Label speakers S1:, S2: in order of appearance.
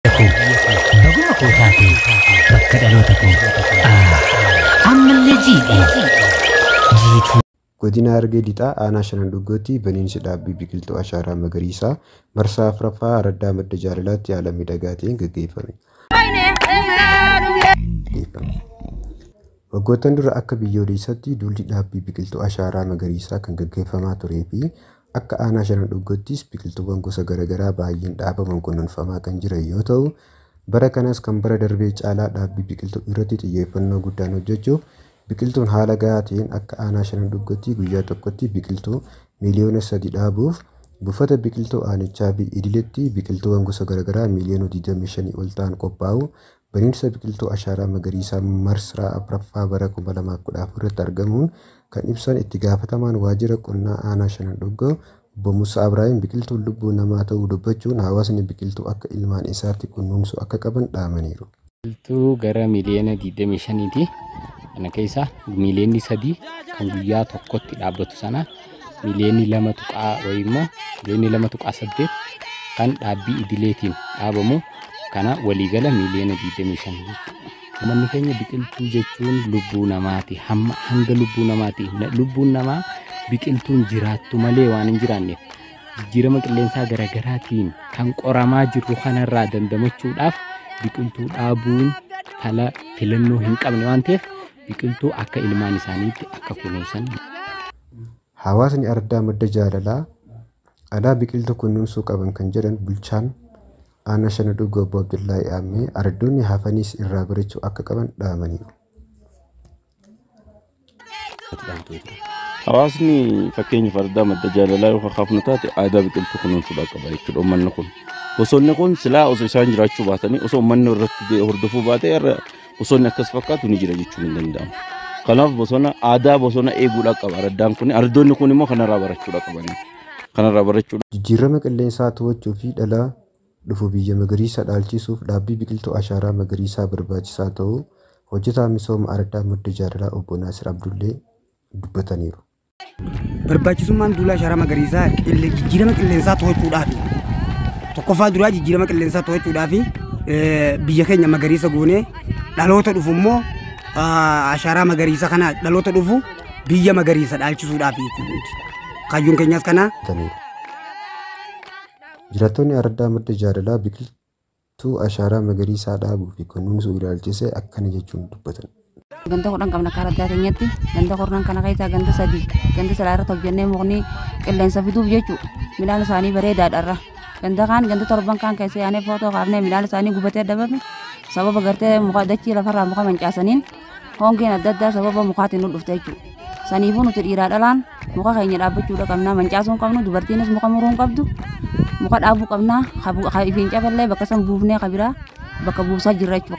S1: Baguma koo taate bakka dhaloota koo. Ammallee jiidhe. Jiituu. Godina Harargee Lixaa
S2: aanaa Shanan Dhuggootti baniinsi dhaabbii biqiltuu ashaaraa magariisaa marsaa afraffaa araddaa madda jaalalaatti haala miidhagaa ta'een gaggeeffame. Waggoottan dura akka biyyoolessaatti duulli dhaabbii biqiltuu ashaaraa magariisaa kan gaggeeffamaa turee fi Akka Aanaa Shanan Dhuggottis biqiltuuwwan gosa garagaraa baay'een dhaabaman kunuunfamaa kan jiran yoo ta'u, bara kanas kan bara darbee caalaa dhaabbii biqiltuu irratti xiyyeeffannoo guddaan hojjechuuf biqiltuun haala gahaa ta'een akka Aanaa Shanan Dhuggottii guyyaa tokkotti biqiltuu miiliyoona 3 dhaabuuf buufata biqiltuu aanichaa fi idiletti biqiltuuwwan gosa garagaraa miiliyoona 25 ol ta'an qophaa'uu Baniinsa biqiltuu Ashaaraa Magariisaa Marsraa 4ffaa bara 2014 irratti argamuun kan ibsan itti gaafatamaan waajjira qonnaa aanaa Shanan Dhoggoo obbo Musaa Abraahim biqiltuun lubbuu namaa ta'uu dubbachuun hawaasni biqiltuu akka ilmaan isaatti kunnuunsuu akka qaban dhaamaniiru. Biqiltuu gara
S3: miliyoona 25ti. Kana keessaa miliyoonni sadii kan guyyaa tokkotti dhaabbatu sana miliyoonni lama tuqaa wayii immoo miliyoonni lama tuqaa saddeet kan dhaabbii idileetiin dhaabamu kana waliigala miliyoona 25 jechuudha. Uummanni keenya biqiltuu jechuun lubbuu namaati. Hamma hanga lubbuu namaati. Lubbuun namaa biqiltuun jiraattu malee waan hin jiraanneef jijjiirama qilleensaa garaagaraatiin kan qoramaa jirru kanarraa dandamachuudhaaf biqiltuu dhaabuun fala filannoo hin qabne waan ta'eef biqiltuu akka ilmaan isaaniitti akka kunuunsan.
S2: Hawaasni Ardaa Madda Jaalalaa dhalaa biqiltuu kunuunsuu qaban kan jedhan bulchaan aanaa Shana Dhuggoo Obbo Abdullaahi Aammee ardoonni hafanis irraa barachuu akka qaban dhaamaniiru.
S4: Hawaasni fakkeenyaaf ardaa madda jaalalaa yoo kakaafnu taate aadaa biqiltuu kunuunsuudhaa qaba jechuudha uummanni kun. Bosonni kun silaa osoo isaan jiraachuu baatanii osoo uummanni irratti hordoffuu baatee irra Bosonni akkas fakkaatu ni jira jechuun hin danda'amu. Kanaaf bosona aadaa bosona eeguudhaa qaba araddaan kun. Ardoonni kun immoo kanarraa barachuudha qabani. Kanarraa barachuudha. Jijjiirrama qilleensaa
S2: to'achuu fi dhala dhufu biyya magariisa dhaalchisuuf dhaabbii biqiltuu ashaaraa magariisaa barbaachisaa ta'uu hojjetaan misooma araddaa Madda Jaalalaa obbo Naasir Abdullee dubbataniiru.
S5: Barbaachisummaan duula ashaaraa magariisaa qille- jijjiirama qilleensaa to'achuudhaafi. Tokkoffaa duraa jijjiirama qilleensaa to'achuudhaafi eh, biyya keenya magariisa goonee dhaloota dhufu immoo ah, ashaaraa magariisa kana dhaloota dhufu biyya magariisa dhaalchisuudhaafi jechuudha. Kaayyoon keenyas kanaa.
S2: Jiraattonni Araddaa Madda Jaalalaa biqiltuu Tuu ashaaraa magariisaa dhaabuu fi kunuunsuu ilaalchisee akkana jechuun dubbatan. Ganda kudhan qabna
S6: akka araddaa keenyatti. Ganda kurnan kana keessaa ganda sadii ganda silaa irratti hojjennee mukni qilleensa fiduuf jechu midhaan isaanii bareedaadha irra. Ganda kaan ganda torban kaan keessa yaanee footoo kaafnee midhaan isaanii gubatee dhabame sababa gartee muka dachii lafarraa muka mancaasaniin Hongeen adda addaa sababa mukaatiin nu dhufte jechuudha. Saniifuu nuti dhiiraa dhalaan muka keenya dhaabbachuudha qabna. Mancaasuu hin qabnu dubartiinis muka muruu hin qabdu. Muka dhaabuu qabna. Ka ifiin cafallee bakka san buufnee ka biraa bakka buusaa jirra jechuudha.